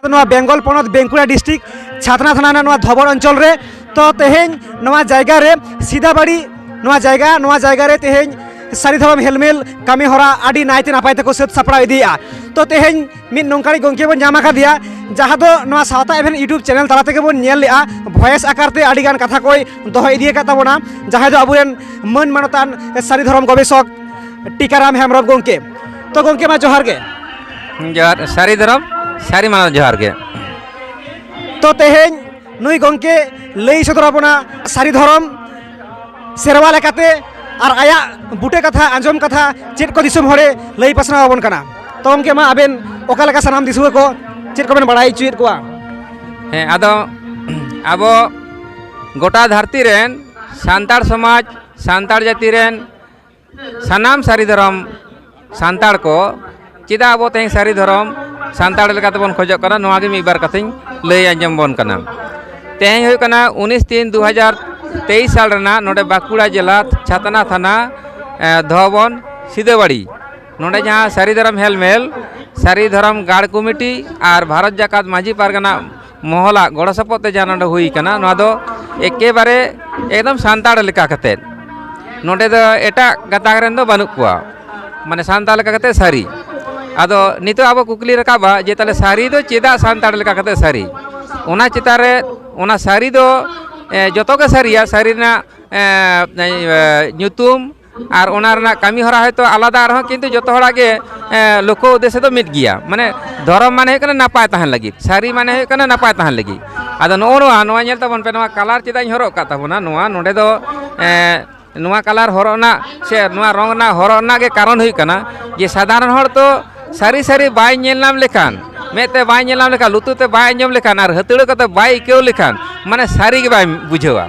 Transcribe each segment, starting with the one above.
ᱱᱚᱣᱟ ᱵᱮᱝᱜᱚᱞ ᱯᱚᱱᱚᱛ ᱵᱮᱝᱠᱩᱲᱟ ᱰᱤᱥᱴᱨᱤᱠ ᱪᱷᱟᱛᱱᱟ ᱛᱷᱟᱱᱟ ᱨᱮᱱᱟᱜ ᱱᱚᱣᱟ ᱫᱷᱚᱵᱚᱨ ᱚᱧᱪᱚᱞ ᱨᱮ ᱛᱚ ᱛᱮᱦᱮᱧ ᱱᱚᱣᱟ ᱡᱟᱭᱜᱟ ᱨᱮ ᱥᱤᱫᱟᱵᱟᱲᱤ ᱱᱚᱣᱟ ᱡᱟᱭᱜᱟ ᱱᱚᱣᱟ ᱡᱟᱭᱜᱟ ᱨᱮ ᱛᱮᱦᱮᱧ ᱥᱟᱹᱨᱤ ᱫᱷᱚᱨᱚᱢ ᱦᱮᱞᱢᱮᱞ ᱠᱟᱹᱢᱤ ᱦᱚᱨᱟ ᱟᱹᱰᱤ ᱱᱟᱭᱛᱮ ᱱᱟᱯᱟᱭ ᱛᱮᱠᱚ ᱥᱟᱹᱛ ᱥᱟᱯᱲᱟᱣ ᱤᱫᱤᱭᱮᱜᱼᱟ ᱛᱚ ᱛᱮᱦᱮᱧ ᱢᱤᱫ ᱱᱚᱝᱠᱟᱱᱤᱡ ᱜᱚᱢᱠᱮ ᱵᱚᱱ ᱧᱟᱢ ᱟᱠᱟᱫᱮᱭᱟ ᱡᱟᱦᱟᱸ ᱫᱚ ᱱᱚᱣᱟ ᱥᱟᱶᱛᱟ ᱮᱵᱷᱮᱱ ᱤᱭᱩᱴᱩᱵᱽ ᱪᱮᱱᱮᱞ ᱛᱟᱞᱟ ᱛᱮᱜᱮ ᱵᱚᱱ ᱧᱮᱞ ᱞᱮᱜᱼᱟ ᱵᱷᱚᱭᱮᱥ ᱟᱠᱟᱨ ᱛᱮ ᱟᱹᱰᱤ ᱜᱟᱱ ᱠᱟᱛᱷᱟ ᱠᱚᱭ ᱫᱚᱦᱚ ᱤᱫᱤ ᱟᱠᱟᱫ ᱛᱟᱵᱚᱱᱟ ᱡᱟᱦᱟᱸᱭ ᱫᱚ ᱟᱵᱚᱨᱮᱱ ᱢᱟᱹᱱ ᱢᱟᱱᱚᱛᱟᱱ ᱥᱟᱹᱨᱤ ᱫᱷᱚᱨᱚᱢ ᱜᱚᱵᱮᱥᱚᱠ ᱴᱤᱠᱟᱨᱟᱢ ᱦᱮᱢᱵᱨᱚᱢ ᱜᱚᱢᱠᱮ ᱛᱚ ᱜᱚᱢᱠᱮ ᱢᱟ ᱡᱚᱦᱟᱨ ᱜᱮ ᱡᱚᱦᱟᱨ ᱥᱟᱹᱨᱤ ᱫᱷᱚᱨᱚᱢ ᱥᱟᱹᱨᱤ ᱢᱟᱱᱟᱣ ᱡᱚᱦᱟᱨ ᱜᱮ ᱛᱚ ᱛᱮᱦᱮᱧ ᱱᱩᱭ ᱜᱚᱢᱠᱮ ᱞᱟᱹᱭ ᱥᱚᱫᱚᱨ ᱟᱵᱚᱱᱟ ᱥᱟᱹᱨᱤ ᱫᱷᱚᱨᱚᱢ ᱥᱮᱨᱣᱟ ᱞᱮᱠᱟᱛᱮ ᱟᱨ ᱟᱭᱟᱜ ᱵᱩᱴᱟᱹ ᱠᱟᱛᱷᱟ ᱟᱸᱡᱚᱢ ᱠᱟᱛᱷᱟ ᱪᱮᱫ ᱠᱚ ᱫᱤᱥᱚᱢ ᱦᱚᱲᱮ ᱞᱟᱹᱭ ᱯᱟᱥᱱᱟᱣ ᱟᱵᱚᱱ ᱠᱟᱱᱟ ᱛᱚ ᱜᱚᱢᱠᱮ ᱢᱟ ᱟᱵᱮᱱ ᱚᱠᱟ ᱞᱮᱠᱟ ᱥᱟᱱᱟᱢ ᱫᱤᱥᱩᱣᱟᱹ ᱠᱚ ᱪᱮᱫ ᱠᱚᱵᱮᱱ ᱵᱟᱲᱟᱭ ᱦᱚᱪᱚᱭᱮᱫ ᱠᱚᱣᱟ ᱦᱮᱸ ᱟᱫᱚ ᱟᱵᱚ ᱜᱚᱴᱟ ᱫᱷᱟᱹᱨᱛᱤ ᱨᱮᱱ ᱥᱟᱱᱛᱟᱲ ᱥᱚᱢᱟᱡᱽ ᱥᱟᱱᱛᱟᱲ ᱡᱟᱹᱛᱤ ᱨᱮᱱ ᱥᱟᱱᱟᱢ ᱥᱟᱹᱨᱤ ᱫᱷᱚᱨᱚᱢ ᱥᱟᱱᱛᱟᱲ ᱠᱚ ᱪᱮᱫᱟᱜ ᱟᱵᱚ ᱛᱮᱦᱮᱧ ᱥᱟᱹᱨᱤ ᱫᱷᱚᱨᱚᱢ ᱥᱟᱱᱛᱟᱲ ᱞᱮᱠᱟ ᱛᱮᱵᱚᱱ ᱠᱷᱚᱡᱚᱜ ᱠᱟᱱᱟ ᱱᱚᱣᱟ ᱜᱮ ᱢᱤᱫ ᱵᱟᱨ ᱠᱟᱛᱷᱟᱧ ᱞᱟᱹᱭ ᱟᱸᱡᱚᱢ ᱵᱚᱱ ᱠᱟᱱᱟ ᱛᱮᱦᱮᱧ ᱦᱩᱭᱩᱜ ᱠᱟᱱᱟ ᱩᱱᱤᱥ ᱛᱤᱱ ᱫᱩ ᱦᱟᱡᱟᱨ ᱛᱮᱭᱤᱥ ᱥᱟᱞ ᱨᱮᱱᱟᱜ ᱱᱚᱰᱮ ᱵᱟᱸᱠᱩᱲᱟ ᱡᱮᱞᱟ ᱪᱷᱟᱛᱱᱟ ᱛᱷᱟᱱᱟ ᱫᱷᱚᱵᱚᱱ ᱥᱤᱫᱟᱹᱵᱟᱲᱤ ᱱᱚᱰᱮ ᱡᱟᱦᱟᱸ ᱥᱟᱹᱨᱤ ᱫᱷᱚᱨᱚᱢ ᱦᱮᱞᱢᱮᱞ ᱥᱟᱹᱨᱤ ᱫᱷᱚᱨᱚᱢ ᱜᱟᱲ ᱠᱚᱢᱤᱴᱤ ᱟᱨ ᱵᱷᱟᱨᱚᱛ ᱡᱟᱠᱟᱛ ᱢᱟᱹᱡᱷᱤ ᱯᱟᱨᱜᱟᱱᱟ ᱢᱚᱦᱚᱞᱟᱜ ᱜᱚᱲᱚ ᱥᱚᱯᱚᱦᱚᱫ ᱛᱮ ᱡᱟᱦᱟᱸ ᱱᱚᱰᱮ ᱦᱩᱭ ᱠᱟᱱᱟ ᱱᱚᱣᱟ ᱫᱚ ᱮᱠᱮᱵᱟᱨᱮ ᱮᱠᱫᱚᱢ ᱥᱟᱱᱛᱟᱲ ᱞᱮᱠᱟ ᱠᱟᱛᱮ ᱱᱚᱰᱮ ᱫᱚ ᱮᱴᱟᱜ ᱜᱟᱛᱟᱠ ᱨᱮᱱ ᱫᱚ ᱵᱟᱹᱱᱩᱜ ᱠᱚᱣᱟ ᱢᱟᱱᱮ ᱥᱟᱱᱛᱟᱲ ᱞᱮᱠᱟ ᱠᱟᱛᱮ ᱥᱟᱹᱨᱤ ᱟᱫᱚ ᱱᱤᱛᱚᱜ ᱟᱵᱚ ᱠᱩᱠᱞᱤ ᱨᱟᱠᱟᱵᱼᱟ ᱡᱮ ᱛᱟᱦᱚᱞᱮ ᱥᱟᱹᱨᱤ ᱫᱚ ᱪᱮᱫᱟᱜ ᱥᱟᱱᱛᱟᱲ ᱞᱮᱠᱟ ᱠᱟᱛᱮ ᱥᱟᱹᱨᱤ ᱚᱱᱟ ᱪᱮᱛᱟᱱ ᱨᱮ ᱚᱱᱟ ᱥᱟᱹᱨᱤ ᱫᱚ ᱡᱚᱛᱚ ᱜᱮ ᱥᱟᱹᱨᱤᱭᱟ ᱥᱟᱹᱨᱤ ᱨᱮᱱᱟᱜ ᱧᱩᱛᱩᱢ ᱟᱨ ᱚᱱᱟ ᱨᱮᱱᱟᱜ ᱠᱟᱹᱢᱤ ᱦᱚᱨᱟ ᱦᱚᱭᱛᱳ ᱟᱞᱟᱫᱟ ᱨᱮᱦᱚᱸ ᱠᱤᱱᱛᱩ ᱡᱚᱛᱚ ᱦᱚᱲᱟᱜ ᱜᱮ ᱞᱚᱠᱠᱷᱚ ᱩᱫᱽᱫᱮᱥᱥᱚ ᱫᱚ ᱢᱤᱫ ᱜᱮᱭᱟ ᱢᱟᱱᱮ ᱫᱷᱚᱨᱚᱢ ᱢᱟᱱᱮ ᱦᱩᱭᱩᱜ ᱠᱟᱱᱟ ᱱᱟᱯᱟᱭ ᱛᱟᱦᱮᱱ ᱞᱟᱹᱜᱤᱫ ᱥᱟᱹᱨᱤ ᱢᱟᱱᱮ ᱦᱩᱭᱩᱜ ᱠᱟᱱᱟ ᱱᱟᱯᱟᱭ ᱛᱟᱦᱮᱱ ᱞᱟᱹᱜᱤᱫ ᱟᱫᱚ ᱱᱚᱜᱼᱚ ᱱᱚᱣᱟ ᱱᱚᱣᱟ ᱧᱮᱞ ᱛᱟᱵᱚᱱ ᱯᱮ ᱱᱚᱣᱟ ᱠᱟᱞᱟᱨ ᱪᱮᱫᱟᱜ ᱤᱧ ᱦᱚᱨᱚᱜ ᱟᱠᱟᱫ ᱛᱟᱵᱚᱱᱟ ᱱᱚᱣᱟ ᱱᱚᱰᱮ ᱫᱚ ᱱᱚᱣᱟ ᱠᱟᱞᱟᱨ ᱦᱚᱨᱚᱜ ᱨᱮᱱᱟᱜ ᱥᱮ ᱱᱚᱣᱟ ᱨᱚᱝ ᱨᱮᱱᱟᱜ ᱦᱚᱨᱚᱜ ᱨᱮᱱᱟᱜ ᱜᱮ ᱠᱟᱨᱚᱱ ᱦᱩᱭᱩᱜ ᱠᱟᱱᱟ ᱡᱮ ᱥᱟᱫᱷᱟᱨᱚᱱ ᱦᱚᱲ ᱫᱚ ᱥᱟᱹᱨᱤ ᱥᱟᱹᱨᱤ ᱵᱟᱭ ᱧᱮᱞ ᱧᱟᱢ ᱞᱮᱠᱷᱟᱱ ᱢᱮᱫ ᱛᱮ ᱵᱟᱭ ᱧᱮᱞ ᱧᱟᱢ ᱞᱮᱠᱷᱟᱱ ᱞᱩᱛᱩᱨ ᱛᱮ ᱵᱟᱭ ᱟᱸᱡᱚᱢ ᱞᱮᱠᱷᱟᱱ ᱟᱨ ᱦᱟᱹᱛᱲᱟᱹᱣ ᱠᱟᱛᱮ ᱵᱟᱭ ᱟᱹᱭᱠᱟᱹᱣ ᱞᱮᱠᱷᱟᱱ ᱢᱟᱱᱮ ᱥᱟᱹᱨᱤ ᱜᱮ ᱵᱟᱭ ᱵᱩᱡᱷᱟᱹᱣᱟ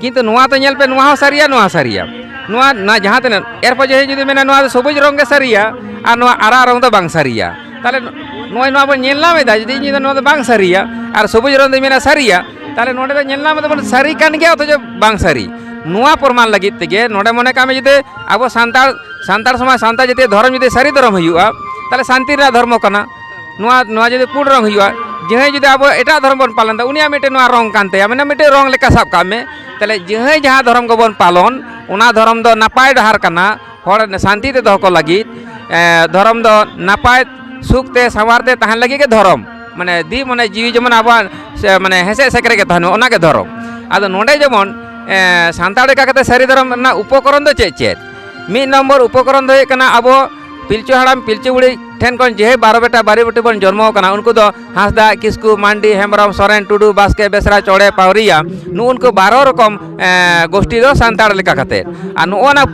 ᱠᱤᱱᱛᱩ ᱱᱚᱣᱟ ᱛᱚ ᱧᱮᱞ ᱯᱮ ᱱᱚᱣᱟ ᱦᱚᱸ ᱥᱟᱹᱨᱤᱭᱟ ᱱᱚᱣᱟ ᱥᱟᱹᱨᱤᱭᱟ ᱱᱚᱣᱟ ᱱᱟ ᱡᱟᱦᱟᱸ ᱛᱤᱱᱟᱹᱜ ᱮᱨᱯᱚᱨ ᱡᱟᱦᱟᱸᱭ ᱡᱩᱫᱤ ᱢᱮᱱᱟ ᱱᱚᱣᱟ ᱫᱚ ᱥᱚᱵᱩᱡᱽ ᱨᱚᱝ ᱜᱮ ᱥᱟᱹᱨᱤᱭᱟ ᱟᱨ ᱱᱚᱣᱟ ᱟᱨᱟᱜ ᱨᱚᱝ ᱫᱚ ᱵᱟᱝ ᱥᱟᱹᱨᱤᱭᱟ ᱛᱟᱦᱚᱞᱮ ᱱᱚᱜᱼᱚᱭ ᱱᱚᱣᱟ ᱵᱚᱱ ᱧᱮᱞ ᱧᱟᱢ ᱮᱫᱟ ᱡᱩᱫᱤ ᱤᱧ ᱫᱚ ᱱᱚᱣᱟ ᱫᱚ ᱵᱟᱝ ᱥᱟᱹᱨᱤᱭᱟ ᱟᱨ ᱥᱚᱵᱩᱡᱽ ᱨᱚᱝ ᱫᱚᱧ ᱢᱮᱱᱟ ᱥᱟᱹᱨᱤᱭᱟ ᱛᱟᱦᱚᱞᱮ ᱱᱚᱰᱮ ᱫᱚ ᱧᱮᱞ ᱧᱟᱢ ᱮᱫᱟᱵᱚᱱ ᱥᱟᱹᱨᱤ ᱠᱟᱱ ᱜᱮᱭᱟ ᱚᱛᱷᱚᱪᱚ ᱵᱟᱝ ᱥᱟᱹᱨᱤ ᱱᱚᱣᱟ ᱯᱨᱚᱢᱟᱱ ᱞᱟᱹᱜᱤᱫ ᱛᱮᱜᱮ ᱱᱚᱰᱮ ᱢᱚᱱᱮ ᱠᱟᱜ ᱢᱮ ᱡᱩᱫᱤ ᱟᱵᱚ ᱥᱟᱱᱛᱟᱲ ᱥᱟᱱᱛᱟᱲ ᱥᱚᱢᱟᱡᱽ ᱥᱟᱱᱛᱟᱲ ᱡᱟᱹᱛᱤᱭᱟᱜ ᱫᱷᱚᱨᱚᱢ ᱡᱩᱫᱤ ᱥᱟᱹᱨᱤ ᱫᱷᱚᱨᱚᱢ ᱦᱩᱭᱩᱜᱼᱟ ᱛᱟᱦᱚᱞᱮ ᱥᱟᱱᱛᱤ ᱨᱮᱱᱟᱜ ᱫᱷᱚᱨᱢᱚ ᱠᱟᱱᱟ ᱱᱚᱣᱟ ᱱᱚᱣᱟ ᱡᱩᱫᱤ ᱯᱩᱸᱰ ᱨᱚᱝ ᱦᱩᱭᱩᱜᱼᱟ ᱡᱟᱦᱟᱸᱭ ᱡᱩᱫᱤ ᱟᱵᱚ ᱮᱴᱟᱜ ᱫᱷᱚᱨᱚᱢ ᱵᱚᱱ ᱯᱟᱞᱚᱱ ᱮᱫᱟ ᱩᱱᱤᱭᱟᱜ ᱢᱤᱫᱴᱮᱱ ᱱᱚᱣᱟ ᱨᱚᱝ ᱠᱟᱱ ᱛᱟᱭᱟ ᱢᱟᱱᱮ ᱢᱤᱫᱴᱮᱱ ᱨᱚᱝ ᱞᱮᱠᱟ ᱥᱟᱵ ᱠᱟᱜ ᱢᱮ ᱛᱟᱦᱚᱞᱮ ᱡᱟᱦᱟᱸᱭ ᱡᱟᱦᱟᱸ ᱫᱷᱚᱨᱚᱢ ᱜᱮᱵᱚᱱ ᱯᱟᱞᱚᱱ ᱚᱱᱟ ᱫᱷᱚᱨᱚᱢ ᱫᱚ ᱱᱟᱯᱟᱭ ᱰᱟᱦᱟᱨ ᱠᱟᱱᱟ ᱦᱚᱲ ᱥᱟᱱᱛᱤ ᱛᱮ ᱫᱚᱦᱚ ᱠᱚ ᱞᱟᱹᱜᱤᱫ ᱫᱷᱚᱨᱚᱢ ᱫᱚ ᱱᱟᱯᱟᱭ ᱥᱩᱠ ᱛᱮ ᱥᱟᱶᱟᱨ ᱛᱮ ᱛᱟᱦᱮᱱ ᱞᱟᱹᱜᱤᱫ ᱜᱮ ᱫᱷᱚᱨᱚᱢ ᱢᱟᱱᱮ ᱫᱤ ᱢᱟᱱᱮ ᱡᱤᱣᱤ ᱡᱮᱢᱚᱱ ᱟᱵᱚᱣᱟᱜ ᱢᱟᱱᱮ ᱦᱮᱸᱥᱮᱡ ᱥᱮᱠᱨᱮ ᱜᱮ ᱛᱟᱦᱮᱱ ᱢᱟ ᱚᱱᱟᱜᱮ ᱫᱷᱚᱨᱚᱢ ᱟᱫᱚ ᱱᱚᱰᱮ ᱡᱮᱢᱚᱱ ᱥᱟᱱᱛᱟᱲ ᱞᱮᱠᱟ ᱠᱟᱛᱮ ᱥᱟᱹᱨᱤ ᱫᱷᱚᱨᱚᱢ ᱨᱮᱱᱟᱜ ᱩᱯᱚᱠᱚᱨᱚᱱ ᱫᱚ ᱪᱮᱫ ᱪᱮᱫ ᱢᱤᱫ ᱱᱚᱢᱵᱚᱨ ᱩᱯᱚᱠᱚᱨᱚᱱ ᱫᱚ ᱦᱩᱭᱩᱜ ᱠᱟᱱᱟ ᱟᱵᱚ ᱯᱤᱞᱪᱩ ᱦᱟᱲᱟᱢ ᱯᱤᱞᱪᱩ ᱵᱩᱲᱦᱤ ᱴᱷᱮᱱ ᱠᱷᱚᱱ ᱡᱮᱦᱮ ᱵᱟᱨᱚ ᱵᱮᱴᱟ ᱵᱟᱨᱮ ᱵᱮᱴᱤ ᱵᱚᱱ ᱡᱚᱱᱢᱚ ᱟᱠᱟᱱᱟ ᱩᱱᱠᱩ ᱫᱚ ᱦᱟᱸᱥᱫᱟ ᱠᱤᱥᱠᱩ ᱢᱟᱱᱰᱤ ᱦᱮᱢᱵᱨᱚᱢ ᱥᱚᱨᱮᱱ ᱴᱩᱰᱩ ᱵᱟᱥᱠᱮ ᱵᱮᱥᱨᱟ ᱪᱚᱲᱮ ᱯᱟᱣᱨᱤᱭᱟ ᱱᱩᱜ ᱩᱱᱠᱩ ᱵᱟᱨᱚ ᱨᱚᱠᱚᱢ ᱜᱳᱥᱴᱤ ᱫᱚ ᱥᱟᱱᱛᱟᱲ ᱞᱮᱠᱟ ᱠᱟᱛᱮ ᱟᱨ ᱱᱚᱜᱼᱚᱱᱟ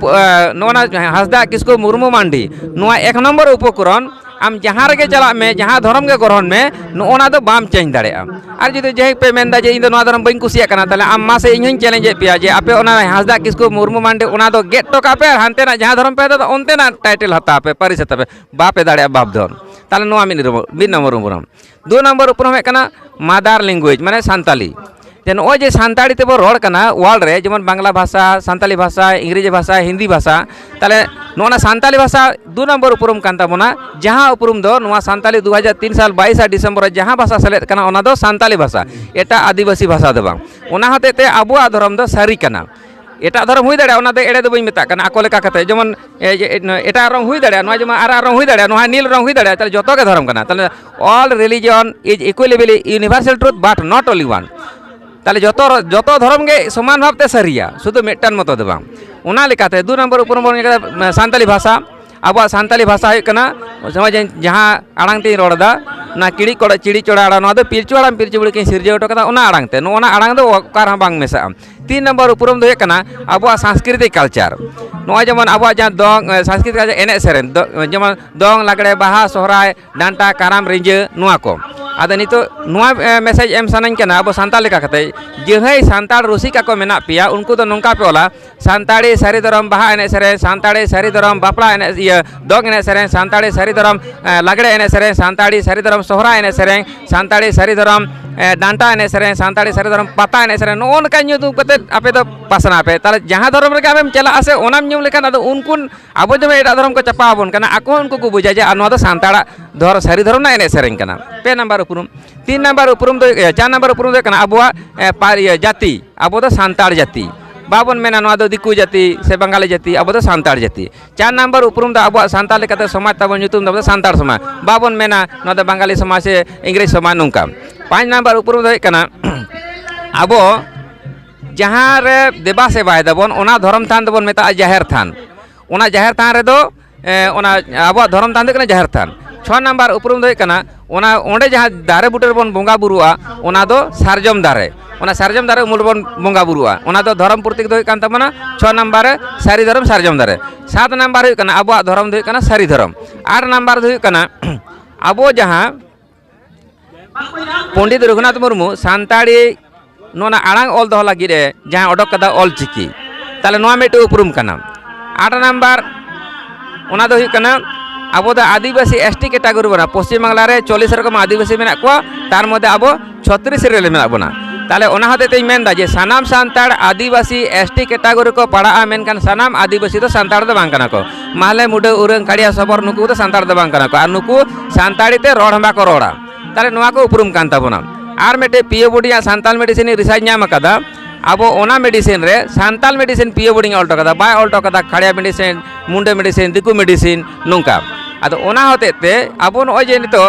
ᱱᱚᱜᱼᱚᱱᱟ ᱦᱟᱸᱥᱫᱟ ᱠᱤᱥᱠᱩ ᱢᱩᱨᱢᱩ ᱢᱟᱱᱰᱤ ᱱᱚᱣᱟ ᱮᱠ ᱱᱚᱢᱵᱚᱨ ᱩᱯᱚᱠᱨᱚᱱ ᱟᱢ ᱡᱟᱦᱟᱸ ᱨᱮᱜᱮ ᱪᱟᱞᱟᱜ ᱢᱮ ᱡᱟᱦᱟᱸ ᱫᱷᱚᱨᱚᱢ ᱜᱮ ᱜᱨᱚᱦᱚᱱ ᱢᱮ ᱱᱚᱜᱼᱚᱱᱟ ᱫᱚ ᱵᱟᱢ ᱪᱮᱧᱡᱽ ᱫᱟᱲᱮᱭᱟᱜᱼᱟ ᱟᱨ ᱡᱩᱫᱤ ᱡᱟᱦᱟᱸᱭ ᱯᱮ ᱢᱮᱱᱫᱟ ᱡᱮ ᱤᱧ ᱫᱚ ᱱᱚᱣᱟ ᱫᱷᱚᱨᱚᱢ ᱵᱟᱹᱧ ᱠᱩᱥᱤᱭᱟᱜ ᱠᱟᱱᱟ ᱛᱟᱦᱞᱮ ᱟᱢ ᱢᱟᱥᱮ ᱤᱧ ᱦᱚᱸᱧ ᱪᱮᱞᱮᱧᱡᱽ ᱮᱫ ᱯᱮᱭᱟ ᱡᱮ ᱟᱯᱮ ᱚᱱᱟ ᱦᱟᱸᱥᱫᱟ ᱠᱤᱥᱠᱩ ᱢᱩᱨᱢᱩ ᱢᱟᱱᱰᱤ ᱚᱱᱟ ᱫᱚ ᱜᱮᱫ ᱦᱚᱴᱚ ᱠᱟᱜ ᱯᱮ ᱟᱨ ᱦᱟᱱᱛᱮᱱᱟᱜ ᱡᱟᱦᱟᱸ ᱫᱷᱚᱨᱚᱢ ᱯᱮ ᱫᱟᱫᱟ ᱚᱱᱛᱮᱱᱟᱜ ᱴᱟᱭᱴᱮᱞ ᱦᱟᱛᱟᱣ ᱯᱮ ᱯᱟᱹᱨᱤᱥ ᱦᱟᱛᱟᱣ ᱯᱮ ᱵᱟᱯᱮ ᱫᱟᱲᱮᱭᱟᱜᱼᱟ ᱵᱟᱯ ᱫᱷᱚᱱ ᱛᱟᱦᱞᱮ ᱱᱚᱣᱟ ᱢᱤᱫ ᱢᱤᱫ ᱱᱚᱢᱵᱚᱨ ᱩᱯᱨᱩᱢ ᱫᱩ ᱱᱚᱢᱵᱚᱨ ᱩᱯᱨᱩᱢ ᱦᱩᱭᱩᱜ ᱠᱟᱱᱟ ᱢᱟᱫᱟᱨ ᱞᱮᱝᱜᱩᱭᱮᱡᱽ ᱢᱟᱱᱮ ᱥᱟᱱᱛᱟᱞᱤ ᱡᱮ ᱱᱚᱜᱼᱚᱭ ᱡᱮ ᱥᱟᱱᱛᱟᱲᱤ ᱛᱮᱵᱚᱱ ᱨᱚᱲ ᱠᱟᱱᱟ ᱚᱣᱟᱨᱞᱰ ᱨᱮ ᱡᱮᱢᱚᱱ ᱵᱟᱝᱞᱟ ᱵᱷᱟᱥᱟ ᱥᱟᱱᱛᱟᱞᱤ ᱵᱷᱟᱥᱟ ᱤᱝᱨᱮᱹᱡᱤ ᱵᱷᱟᱥᱟ ᱦᱤᱱᱫᱤ ᱵᱷᱟᱥᱟ ᱛᱟᱦᱚᱞᱮ ᱱᱚᱣᱟ ᱥᱟᱱᱛᱟᱞᱤ ᱵᱷᱟᱥᱟ ᱫᱩ ᱱᱚᱢᱵᱚᱨ ᱩᱯᱨᱩᱢ ᱠᱟᱱ ᱛᱟᱵᱚᱱᱟ ᱡᱟᱦᱟᱸ ᱩᱯᱨᱩᱢ ᱫᱚ ᱱᱚᱣᱟ ᱥᱟᱱᱛᱟᱞᱤ ᱫᱩ ᱦᱟᱡᱟᱨ ᱛᱤᱱ ᱥᱟᱞ ᱵᱟᱭᱤᱥ ᱰᱤᱥᱮᱢᱵᱚᱨ ᱡᱟᱦᱟᱸ ᱵᱷᱟᱥᱟ ᱥᱮᱞᱮᱫ ᱠᱟᱱᱟ ᱚᱱᱟ ᱫᱚ ᱥᱟᱱᱛᱟᱞᱤ ᱵᱷᱟᱥᱟ ᱮᱴᱟᱜ ᱟᱹᱫᱤᱵᱟᱹᱥᱤ ᱵᱷᱟᱥᱟ ᱫᱚ ᱵᱟᱝ ᱚᱱᱟ ᱦᱚᱛᱮᱡ ᱛᱮ ᱟᱵᱚᱣᱟᱜ ᱫᱷᱚᱨᱚᱢ ᱫᱚ ᱥᱟᱹᱨᱤ ᱠᱟᱱᱟ ᱮᱴᱟᱜ ᱫᱷᱚᱨᱚᱢ ᱦᱩᱭ ᱫᱟᱲᱮᱭᱟᱜᱼᱟ ᱚᱱᱟ ᱫᱚ ᱮᱲᱮ ᱫᱚ ᱵᱟᱹᱧ ᱢᱮᱛᱟᱜ ᱠᱟᱱᱟ ᱟᱠᱚ ᱞᱮᱠᱟ ᱠᱟᱛᱮ ᱡᱮᱢᱚᱱ ᱮᱴᱟᱜ ᱨᱚᱝ ᱦᱩᱭ ᱫᱟᱲᱮᱭᱟᱜᱼᱟ ᱱᱚᱣᱟ ᱡᱮᱢᱚᱱ ᱟᱨᱟᱜ ᱨᱚᱝ ᱦᱩᱭ ᱫᱟᱲᱮᱭᱟᱜᱼᱟ ᱱᱚᱣᱟ ᱱᱤᱞ ᱨᱚᱝ ᱦᱩᱭ ᱫᱟᱲᱮᱭᱟᱜᱼᱟ ᱛᱟᱦᱚᱞᱮ ᱡᱚᱛᱚ ᱜᱮ ᱫᱷᱚᱨᱚᱢ ᱠᱟᱱᱟ ᱛᱟᱦᱚᱞᱮ all religion is ᱤᱠᱩᱭᱞᱤᱵᱤᱞᱤ universal truth but not only one ᱛᱟᱦᱚᱞᱮ ᱡᱚᱛᱚ ᱡᱚᱛᱚ ᱫᱷᱚᱨᱚᱢ ᱜᱮ ᱥᱚᱢᱟᱱ ᱵᱷᱟᱵᱛᱮ ᱥᱟᱹᱨᱤᱭᱟ ᱥᱩᱫᱷᱩ ᱢᱤᱫᱴᱟᱝ ᱢᱚᱛᱚ ᱫᱚ ᱵᱟᱝ ᱚᱱᱟ ᱞᱮᱠᱟᱛᱮ ᱫᱩ ᱱᱚᱢᱵᱚᱨ ᱩᱯᱨᱩᱢ ᱵᱚᱱ ᱧᱮᱞ ᱠᱮᱫᱟ ᱥᱟᱱᱛᱟᱞᱤ ᱵᱷᱟᱥᱟ ᱟᱵᱚᱣᱟᱜ ᱥᱟᱱᱛᱟᱞᱤ ᱵᱷᱟᱥᱟ ᱦᱩᱭᱩᱜ ᱠᱟᱱᱟ ᱱᱚᱜᱼᱚᱭ ᱡᱮ ᱡᱟᱦᱟᱸ ᱟᱲᱟᱝ ᱛᱮᱧ ᱨᱚᱲ ᱮᱫᱟ ᱚᱱᱟ ᱠᱤᱲᱤ ᱠᱚᱲᱟ ᱪᱤᱲᱤ ᱪᱚᱲᱟ ᱟᱲᱟᱝ ᱱᱚᱣᱟ ᱫᱚ ᱯᱤᱞᱪᱩ ᱟᱲᱟᱝ ᱯᱤᱞᱪᱩ ᱵᱩᱲᱦᱤ ᱠᱤᱱ ᱥᱤᱨᱡᱟᱹᱣ ᱦᱚᱴᱚ ᱠᱟᱫᱟ ᱚᱱᱟ ᱟᱲᱟᱝ ᱛᱮ ᱱᱚᱜᱼᱚ ᱱᱟ ᱟᱲᱟᱝ ᱫᱚ ᱚᱠᱟ ᱨᱮᱦᱚᱸ ᱵᱟᱝ ᱢᱮᱥᱟᱜᱼᱟ ᱛᱤᱱ ᱱᱚᱢᱵᱚᱨ ᱩᱯᱨᱩᱢ ᱫᱚ ᱦᱩᱭᱩᱜ ᱠᱟᱱᱟ ᱟᱵᱚᱣᱟᱜ ᱥᱟᱝᱥᱠᱨᱤᱛᱤᱠ ᱠᱟᱞᱪᱟᱨ ᱱᱚᱜᱼᱚᱭ ᱡᱮᱢᱚᱱ ᱟᱵᱚᱣᱟᱜ ᱡᱟᱦᱟᱸ ᱫᱚᱝ ᱥᱟᱝᱥᱠᱨᱤᱛᱤᱠ ᱠᱟᱞᱪᱟᱨ ᱮᱱᱮᱡ ᱥᱮᱨᱮᱧ ᱡᱮᱢᱚᱱ ᱫᱚᱝ ᱞᱟᱜᱽᱲᱮ ᱵᱟᱦᱟ ᱥᱚᱦᱨᱟᱭ ᱰᱟᱱᱴᱟ ᱠᱟᱨᱟᱢ ᱨᱤᱸᱡᱟᱹ ᱱᱚᱣᱟ ᱠᱚ ᱟᱫᱚ ᱱᱤᱛᱚᱜ ᱱᱚᱣᱟ ᱢᱮᱥᱮᱡᱽ ᱮᱢ ᱥᱟᱱᱟᱧ ᱠᱟᱱᱟ ᱟᱵᱚ ᱥᱟᱱᱛᱟᱲ ᱞᱮᱠᱟ ᱠᱟᱛᱮ ᱡᱟᱹᱦᱟᱹᱭ ᱥᱟᱱᱛᱟᱲ ᱨᱩᱥᱤᱠᱟ ᱠᱚ ᱢᱮᱱᱟᱜ ᱯᱮᱭᱟ ᱩᱱᱠᱩ ᱫᱚ ᱱᱚᱝᱠᱟ ᱯᱮ ᱚᱞᱟ ᱥᱟᱱᱛᱟᱲᱤ ᱥᱟᱹᱨᱤ ᱫᱷᱚᱨᱚᱢ ᱵᱟᱦᱟ ᱮᱱᱮᱡ ᱥᱮᱨᱮᱧ ᱥᱟᱱᱛᱟᱲᱤ ᱥᱟᱹᱨᱤ ᱫᱷᱚᱨᱚᱢ ᱵᱟᱯᱞᱟ ᱮᱱᱮᱡ ᱤᱭᱟᱹ ᱫᱚᱝ ᱮᱱᱮᱡ ᱥᱮᱨᱮᱧ ᱥᱟᱱᱛᱟᱲᱤ ᱥᱟᱹᱨᱤ ᱫᱷᱚᱨᱚᱢ ᱞᱟᱜᱽᱲᱮ ᱮᱱᱮᱡ ᱥᱮᱨᱮᱧ ᱥᱟᱱᱛᱟᱲᱤ ᱥᱟᱹᱨᱤ ᱫᱷᱚᱨᱚᱢ ᱥᱚᱦᱨᱟᱭ ᱮᱱᱮᱡ ᱥᱮᱨᱮᱧ ᱥᱟᱱᱛᱟᱲᱤ ᱥᱟᱹᱨᱤ ᱫᱷᱚᱨᱚᱢ ᱰᱟᱱᱴᱟ ᱮᱱᱮᱡ ᱥᱮᱨᱮᱧ ᱥᱟᱱᱛᱟᱲᱤ ᱥᱟᱹᱨᱤ ᱫᱷᱚᱨᱚᱢ ᱯᱟᱛᱟ ᱮᱱᱮᱡ ᱥᱮᱨᱮᱧ ᱱᱚᱜᱼᱚ ᱱᱚᱝᱠᱟ ᱧᱩᱛᱩᱢ ᱠᱟᱛᱮ ᱟᱯᱮ ᱫᱚ ᱯᱟᱥᱱᱟᱣ ᱯᱮ ᱛᱟᱦᱚᱞᱮ ᱡᱟᱦᱟᱸ ᱫᱷᱚᱨᱚᱢ ᱨᱮᱜᱮ ᱟᱢᱮᱢ ᱪᱟᱞᱟᱜᱼᱟ ᱥᱮ ᱚᱱᱟᱢ ᱧᱩᱢ ᱞᱮᱠᱷᱟᱱ ᱟᱫᱚ ᱩᱱᱠᱩ ᱟᱵᱚ ᱡᱮᱢᱚᱱ ᱮᱴᱟᱜ ᱫᱷᱚᱨᱚᱢ ᱠᱚ ᱪᱟᱯᱟ ᱟᱵᱚᱱ ᱠᱟᱱᱟ ᱟᱠᱚ ᱦᱚᱸ ᱩᱱᱠᱩ ᱠᱚ ᱵᱩᱡᱟ ᱡᱮ ᱟᱨ ᱱᱚᱣᱟ ᱫᱚ ᱥᱟᱱᱛᱟᱲᱟᱜ ᱫᱷᱚᱨᱚᱢ ᱥᱟᱹᱨᱤ ᱫᱷᱚᱨᱚᱢ ᱨᱮᱱᱟᱜ ᱮᱱᱮᱡ ᱥᱮᱨᱮᱧ ᱠᱟᱱᱟ ᱯᱮ ᱱᱟᱢᱵᱟᱨ ᱩᱯᱨᱩᱢ ᱛᱤᱱ ᱱᱟᱢᱵᱟᱨ ᱩᱯᱨᱩᱢ ᱫᱚ ᱪᱟᱨ ᱱᱟᱢᱵᱟᱨ ᱩᱯᱨᱩᱢ ᱫᱚ ᱦᱩᱭᱩᱜ ᱠᱟᱱᱟ ᱟᱵᱚᱣᱟᱜ ᱡᱟᱹᱛᱤ ᱟᱵᱚ ᱫᱚ ᱥᱟᱱᱛᱟᱲ ᱡᱟᱹᱛᱤ ᱵᱟᱵᱚᱱ ᱢᱮᱱᱟ ᱱᱚᱣᱟ ᱫᱚ ᱫᱤᱠᱩ ᱡᱟᱹᱛᱤ ᱥᱮ ᱵᱟᱝᱜᱟᱞᱤ ᱡᱟᱹᱛᱤ ᱟᱵᱚ ᱫᱚ ᱥᱟᱱᱛᱟᱲ ᱡᱟᱹᱛᱤ ᱪᱟᱨ ᱱᱟᱢᱵᱟᱨ ᱩᱯᱨᱩᱢ ᱫᱚ ᱟᱵᱚᱣᱟᱜ ᱥᱟᱱᱛᱟᱲ ᱞᱮᱠᱟᱛᱮ ᱥᱚᱢᱟᱡᱽ ᱛᱟᱵᱚᱱ ᱧᱩᱛᱩᱢ ᱫᱚ ᱟᱵᱚ ᱫᱚ ᱥᱟᱱᱛᱟᱲ ᱥᱚᱢᱟᱡᱽ ᱵᱟᱵᱚᱱ ᱢᱮᱱᱟ ᱱᱚᱣᱟ ᱫᱚ ᱵᱟᱝᱜᱟᱞᱤ ᱥᱚᱢᱟᱡᱽ ᱥᱮ ᱤᱝᱨᱮᱡᱽ ᱥᱚᱢᱟᱡᱽ ᱱᱚᱝᱠᱟ ᱯᱟᱸᱪ ᱱᱟᱢᱵᱟᱨ ᱩᱯᱨᱩᱢ ᱫᱚ ᱦᱩᱭᱩᱜ ᱠᱟᱱᱟ ᱟᱵᱚ ᱡᱟᱦᱟᱸ ᱨᱮ ᱫᱮᱵᱟ ᱥᱮᱵᱟᱭ ᱫᱟᱵᱚᱱ ᱚᱱᱟ ᱫᱷᱚᱨᱚᱢ ᱛᱷᱟᱱ ᱫᱚᱵᱚᱱ ᱢᱮᱛᱟᱜᱼᱟ ᱡᱟᱦᱮᱨ ᱛᱷᱟᱱ ᱚᱱᱟ ᱡᱟᱦᱮᱨ ᱛᱷᱟᱱ ᱨᱮᱫᱚ ᱚᱱᱟ ᱟᱵᱚᱣᱟᱜ ᱫᱷᱚᱨᱚᱢ ᱛᱷᱟᱱ ᱫᱚ ᱦᱩᱭᱩᱜ ᱠᱟᱱᱟ ᱡᱟᱦᱮᱨ ᱛᱷᱟᱱ ᱪᱷᱚ ᱱᱟᱢᱵᱟᱨ ᱩᱯᱨᱩᱢ ᱫᱚ ᱦᱩᱭᱩᱜ ᱠᱟᱱᱟ ᱚᱱᱟ ᱚᱸᱰᱮ ᱡᱟᱦᱟᱸ ᱫᱟᱨᱮ ᱵᱩᱴᱟᱹ ᱨᱮᱵᱚᱱ ᱵᱚᱸᱜᱟ ᱵᱩᱨᱩᱜᱼᱟ ᱚᱱᱟ ᱫᱚ ᱥᱟᱨᱡᱚᱢ ᱫᱟᱨᱮ ᱚᱱᱟ ᱥᱟᱨᱡᱚᱢ ᱫᱟᱨᱮ ᱩᱢᱩᱞ ᱨᱮᱵᱚᱱ ᱵᱚᱸᱜᱟ ᱵᱩᱨᱩᱜᱼᱟ ᱚᱱᱟ ᱫᱚ ᱫᱷᱚᱨᱚᱢ ᱯᱨᱚᱛᱤᱠ ᱫᱚ ᱦᱩᱭᱩᱜ ᱠᱟᱱ ᱛᱟᱵᱚᱱᱟ ᱪᱷᱚ ᱱᱟᱢᱵᱟᱨ ᱨᱮ ᱥᱟᱹᱨᱤ ᱫᱷᱚᱨᱚᱢ ᱥᱟᱨᱡᱚᱢ ᱫᱟᱨᱮ ᱥᱟᱛ ᱱᱟᱢᱵᱟᱨ ᱦᱩᱭᱩᱜ ᱠᱟᱱᱟ ᱟᱵᱚᱣᱟᱜ ᱫᱷᱚᱨᱚᱢ ᱫᱚ ᱦᱩᱭᱩᱜ ᱠᱟᱱᱟ ᱥᱟᱹᱨᱤ ᱫᱷᱚᱨᱚᱢ ᱟᱴ ᱱᱟᱢᱵᱟᱨ ᱫᱚ ᱦᱩᱭᱩᱜ ᱠᱟᱱᱟ ᱟᱵᱚ ᱡᱟᱦᱟᱸ ᱯᱚᱱᱰᱤᱛ ᱨᱚᱜᱷᱩᱱᱟᱛᱷ ᱢᱩᱨᱢᱩ ᱥᱟᱱᱛᱟᱲᱤ ᱱᱚᱣᱟ ᱟᱲᱟᱝ ᱚᱞ ᱫᱚᱦᱚ ᱞᱟᱹᱜᱤᱫ ᱮ ᱡᱟᱦᱟᱸ ᱚᱰᱚᱠ ᱠᱟᱫᱟ ᱚᱞ ᱪᱤᱠᱤ ᱛᱟᱦᱞᱮ ᱱᱚᱣᱟ ᱢᱤᱫᱴᱮᱱ ᱩᱯᱨᱩᱢ ᱠᱟᱱᱟ ᱟᱴ ᱱᱟᱢᱵᱟᱨ ᱚᱱᱟ ᱫᱚ ᱦᱩᱭᱩᱜ ᱠᱟᱱᱟ ᱟᱵᱚ ᱫᱚ ᱟᱹᱫᱤᱵᱟᱹᱥᱤ ᱮᱥ ᱴᱤ ᱠᱮᱴᱟᱜᱚᱨᱤ ᱵᱚᱱᱟ ᱯᱚᱥᱪᱤᱢ ᱵᱟᱝᱞᱟ ᱨᱮ ᱪᱚᱞᱞᱤᱥ ᱨᱚᱠᱚᱢ ᱟᱹᱫᱤᱵᱟᱹᱥᱤ ᱢᱮᱱᱟᱜ ᱠᱚᱣᱟ ᱛᱟᱨ ᱢᱚᱫᱽᱫᱷᱮ ᱟᱵᱚ ᱪᱷᱚᱛᱨᱤᱥ ᱨᱮ ᱢᱮᱱᱟᱜ ᱵᱚᱱᱟ ᱛᱟᱦᱞᱮ ᱚᱱᱟ ᱦᱚᱛᱮᱡ ᱛᱮᱧ ᱢᱮᱱᱫᱟ ᱡᱮ ᱥᱟᱱᱟᱢ Santal Adivasi S T category ᱠᱚ ᱯᱟᱲᱟᱜᱼᱟ ᱢᱮᱱᱠᱷᱟᱱ ᱥᱟᱱᱟᱢ ᱟᱹᱫᱤᱵᱟᱹᱥᱤ ᱫᱚ ᱥᱟᱱᱛᱟᱲ ᱫᱚ ᱵᱟᱝ ᱠᱟᱱᱟ ᱠᱚ ᱢᱟᱦᱞᱮ ᱢᱩᱰᱟᱹ ᱩᱨᱟᱹᱝ ᱠᱟᱲᱤᱭᱟ ᱥᱚᱵᱚᱨ ᱱᱩᱠᱩ ᱫᱚ ᱥᱟᱱᱛᱟᱲ ᱫᱚ ᱵᱟᱝ ᱠᱟᱱᱟ ᱠᱚ ᱟᱨ ᱱᱩᱠᱩ ᱥᱟᱱᱛᱟᱲᱤ ᱛᱮ ᱨᱚᱲ ᱦᱚᱸ ᱵᱟᱠᱚ ᱨᱚᱲᱟ ᱛᱟᱦᱞᱮ ᱱᱚᱣᱟ ᱠᱚ ᱩᱯᱨᱩᱢ ᱠᱟᱱ ᱛᱟᱵᱚᱱᱟ ᱟᱨ ᱢᱤᱫᱴᱮᱡ ᱯᱤᱭᱳ ᱵᱳᱰᱤᱭᱟᱜ ᱥᱟᱱᱛᱟᱲ ᱢᱮᱰᱤᱥᱤᱱ ᱨᱤᱥᱟᱨᱪ ᱧᱟᱢ ᱟᱠᱟᱫᱟ ᱟᱵᱚ ᱚᱱᱟ ᱢᱮᱰᱤᱥᱤᱱ ᱨᱮ ᱥᱟᱱᱛᱟᱲ ᱢᱮᱰᱤᱥᱤᱱ ᱯᱤᱭᱳ ᱵᱳᱰᱤᱧ ᱚᱞ ᱦᱚᱴᱚ ᱠᱟᱫᱟ ᱵᱟᱭ ᱚᱞ ᱦᱚᱴᱚ ᱠᱟᱫᱟ ᱠᱟᱲᱤᱭᱟ ᱢᱮᱰᱤᱥᱤᱱ ᱢᱩᱱᱰᱟᱹ ᱢᱮᱰᱤᱥᱤᱱ ᱫᱤᱠᱩ ᱢᱮᱰᱤᱥᱤᱱ ᱱᱚᱝᱠᱟ ᱟᱫᱚ ᱚᱱᱟ ᱦᱚᱛᱮᱡ ᱛᱮ ᱟᱵᱚ ᱱᱚᱜᱼᱚᱭ ᱡᱮ ᱱᱤᱛᱚᱜ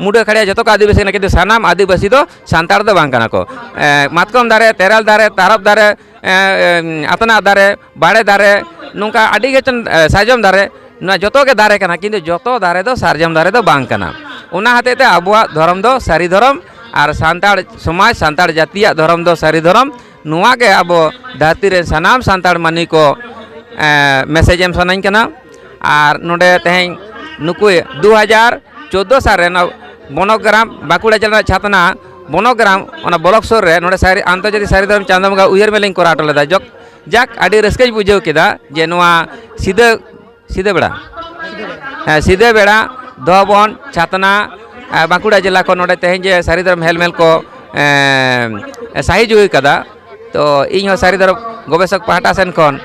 ᱢᱩᱰᱟᱹ ᱠᱷᱟᱲᱤᱭᱟ ᱡᱚᱛᱚ ᱠᱚ ᱟᱹᱫᱤᱵᱟᱹᱥᱤ ᱠᱟᱱᱟ ᱠᱤᱱᱛᱩ ᱥᱟᱱᱟᱢ ᱟᱹᱫᱤᱵᱟᱹᱥᱤ ᱫᱚ ᱥᱟᱱᱛᱟᱲ ᱫᱚ ᱵᱟᱝ ᱠᱟᱱᱟ ᱠᱚ ᱢᱟᱛᱠᱚᱢ ᱫᱟᱨᱮ ᱛᱮᱨᱮᱞ ᱫᱟᱨᱮ ᱛᱟᱨᱚᱵ ᱫᱟᱨᱮ ᱟᱛᱱᱟᱜ ᱫᱟᱨᱮ ᱵᱟᱲᱮ ᱫᱟᱨᱮ ᱱᱚᱝᱠᱟ ᱟᱹᱰᱤ ᱜᱮ ᱥᱟᱨᱡᱚᱢ ᱫᱟᱨᱮ ᱱᱚᱣᱟ ᱡᱚᱛᱚ ᱜᱮ ᱫᱟᱨᱮ ᱠᱟᱱᱟ ᱠᱤᱱᱛᱩ ᱡᱚᱛᱚ ᱫᱟᱨᱮ ᱫᱚ ᱥᱟᱨᱡᱚᱢ ᱫᱟᱨᱮ ᱫᱚ ᱵᱟᱝ ᱠᱟᱱᱟ ᱚᱱᱟ ᱦᱚᱛᱮᱡ ᱛᱮ ᱟᱵᱚᱣᱟᱜ ᱫᱷᱚᱨᱚᱢ ᱫᱚ ᱥᱟᱹᱨᱤ ᱫᱷᱚᱨᱚᱢ ᱟᱨ ᱥᱟᱱᱛᱟᱲ ᱥᱚᱢᱟᱡᱽ ᱥᱟᱱᱛᱟᱲ ᱡᱟᱹᱛᱤᱭᱟᱜ ᱫᱷᱚᱨᱚᱢ ᱫᱚ ᱥᱟᱹᱨᱤ ᱫᱷᱚᱨᱚᱢ ᱱᱚᱣᱟ ᱜᱮ ᱟᱵᱚ ᱫᱷᱟᱹᱨᱛᱤ ᱨᱮ ᱥᱟᱱᱟᱢ ᱥᱟᱱᱛᱟᱲ ᱢᱟᱹᱱᱢᱤ ᱠᱚ ᱢᱮᱥᱮᱡᱽ ᱮᱢ ᱥᱟᱱᱟᱹᱧ ᱠᱟᱱᱟ ᱟᱨ ᱱᱚᱰᱮ ᱛᱮᱦᱮᱧ ᱱᱩᱠᱩ ᱫᱩ ᱦᱟᱡᱟᱨ ᱪᱳᱫᱽᱫᱳ ᱥᱟᱞ ᱨᱮ ᱱᱚᱣᱟ ᱵᱚᱱᱚᱜᱨᱟᱢ ᱵᱟᱸᱠᱩᱲᱟ ᱡᱮᱞᱟ ᱨᱮᱱᱟᱜ ᱪᱷᱟᱛᱱᱟ ᱵᱚᱱᱚᱜᱨᱟᱢ ᱚᱱᱟ ᱵᱞᱚᱠ ᱥᱩᱨ ᱨᱮ ᱱᱚᱰᱮ ᱥᱟᱹᱨᱤ ᱟᱱᱛᱚᱨᱡᱟᱛᱤᱠ ᱥᱟᱹᱨᱤ ᱫᱷᱚᱨᱚᱢ ᱪᱟᱸᱫᱳ ᱵᱚᱸᱜᱟ ᱩᱭᱦᱟᱹᱨ ᱢᱮᱞᱟᱧ ᱠᱚᱨᱟᱣ ᱦᱚᱴᱚ ᱞᱮᱫᱟ ᱡᱚᱠ ᱡᱟᱠ ᱟᱹᱰᱤ ᱨᱟᱹᱥᱠᱟᱹᱧ ᱵᱩᱡᱷᱟᱹᱣ ᱠᱮᱫᱟ ᱡᱮ ᱱᱚᱣᱟ ᱥᱤᱫᱟᱹ ᱥᱤᱫᱟᱹ ᱵᱮᱲᱟ ᱦᱮᱸ ᱥᱤᱫᱟᱹ ᱵᱮᱲᱟ ᱫᱚ ᱵᱚᱱ ᱪᱷᱟᱛᱱᱟ ᱵᱟᱸᱠᱩᱲᱟ ᱡᱮᱞᱟ ᱠᱷᱚᱱ ᱱᱚᱰᱮ ᱛᱮᱦᱮᱧ ᱡᱮ ᱥᱟᱹᱨᱤ ᱫᱷᱚᱨᱚᱢ ᱦᱮᱞᱢᱮᱞ ᱠᱚ ᱥᱟᱹᱦᱤ ᱡᱩᱦᱤ ᱠᱟᱫᱟ ᱛᱚ ᱤᱧ ᱦᱚᱸ ᱥᱟᱹᱨᱤ ᱫᱷᱚᱨᱚᱢ ᱜᱚᱵᱮᱥᱚᱠ ᱯᱟᱦᱴᱟ ᱥᱮᱱ ᱠᱷᱚᱱ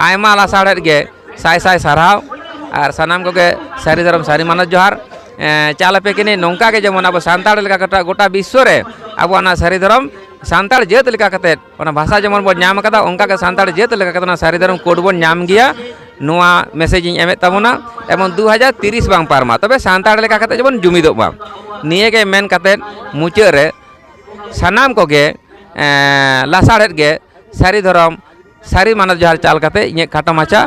ᱟᱭᱢᱟ ᱞᱟᱥᱟᱲᱦᱮᱫ ᱜᱮ ᱥᱟᱭ ᱥᱟᱭ ᱥᱟᱨᱦᱟᱣ ᱟᱨ ᱥᱟᱱᱟᱢ ᱠᱚᱜᱮ ᱥᱟᱹᱨᱤ ᱫᱷᱚᱨᱚᱢ ᱥᱟᱹᱨᱤ ᱢᱟᱱᱚᱛ ᱡᱚᱦᱟᱨ ᱪᱟᱞ ᱟᱯᱮ ᱠᱤᱱᱤ ᱱᱚᱝᱠᱟ ᱜᱮ ᱡᱮᱢᱚᱱ ᱟᱵᱚ ᱥᱟᱱᱛᱟᱲ ᱞᱮᱠᱟ ᱜᱚᱴᱟ ᱵᱤᱥᱥᱚ ᱨᱮ ᱟᱵᱚᱣᱟᱜ ᱚᱱᱟ ᱥᱟᱹᱨᱤ ᱫᱷᱚᱨᱚᱢ ᱥᱟᱱᱛᱟᱲ ᱡᱟᱹᱛ ᱞᱮᱠᱟ ᱠᱟᱛᱮᱫ ᱚᱱᱟ ᱵᱷᱟᱥᱟ ᱡᱮᱢᱚᱱ ᱵᱚᱱ ᱧᱟᱢ ᱠᱟᱫᱟ ᱚᱱᱠᱟ ᱜᱮ ᱥᱟᱱᱛᱟᱲ ᱡᱟᱹᱛ ᱞᱮᱠᱟ ᱠᱟᱛᱮ ᱚᱱᱟ ᱥᱟᱹᱨᱤ ᱫᱷᱚᱨᱚᱢ ᱠᱳᱰ ᱵᱚᱱ ᱧᱟᱢ ᱜᱮᱭᱟ ᱱᱚᱣᱟ ᱢᱮᱥᱮᱡᱽ ᱤᱧ ᱮᱢᱮᱫ ᱛᱟᱵᱚᱱᱟ ᱮᱢᱚᱱ ᱫᱩ ᱦᱟᱡᱟᱨ ᱛᱤᱨᱤᱥ ᱵᱟᱝ ᱯᱟᱨᱚᱢᱟ ᱛᱚᱵᱮ ᱥᱟᱱᱛᱟᱲ ᱞᱮᱠᱟ ᱠᱟᱛᱮ ᱡᱮᱢᱚᱱ ᱡᱩᱢᱤᱫᱚᱜ ᱢᱟ ᱱᱤᱭᱟᱹ ᱜᱮ ᱢᱮᱱ ᱠᱟᱛᱮ ᱢᱩᱪᱟᱹᱫ ᱨᱮ ᱥᱟᱱᱟᱢ ᱠᱚᱜᱮ ᱞᱟᱥᱟᱲᱦᱮᱫ ᱜᱮ ᱥᱟᱹᱨᱤ ᱫᱷᱚᱨᱚᱢ ᱥᱟᱹᱨᱤ ᱢᱟᱱᱚᱛ ᱡᱚᱦᱟᱨ ᱪᱟᱞ ᱠᱟᱛᱮ ᱤᱧᱟᱹᱜ ᱠᱷᱟᱴᱚ ᱢᱟᱪᱷᱟ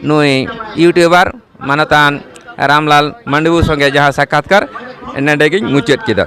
ᱱᱩᱭ ᱤᱭᱩᱴᱤᱭᱩᱵᱟᱨ ᱢᱟᱱᱚᱛᱟᱱ ᱨᱟᱢᱞᱟᱞ ᱢᱟᱱᱰᱤᱵᱩ ᱥᱚᱸᱜᱮ ᱡᱟᱦᱟᱸ ᱥᱟᱠᱷᱟᱛᱠᱟᱨ ᱱᱚᱰᱮ ᱜᱤᱧ ᱢᱩᱪᱟᱹᱫ ᱠᱮᱫᱟ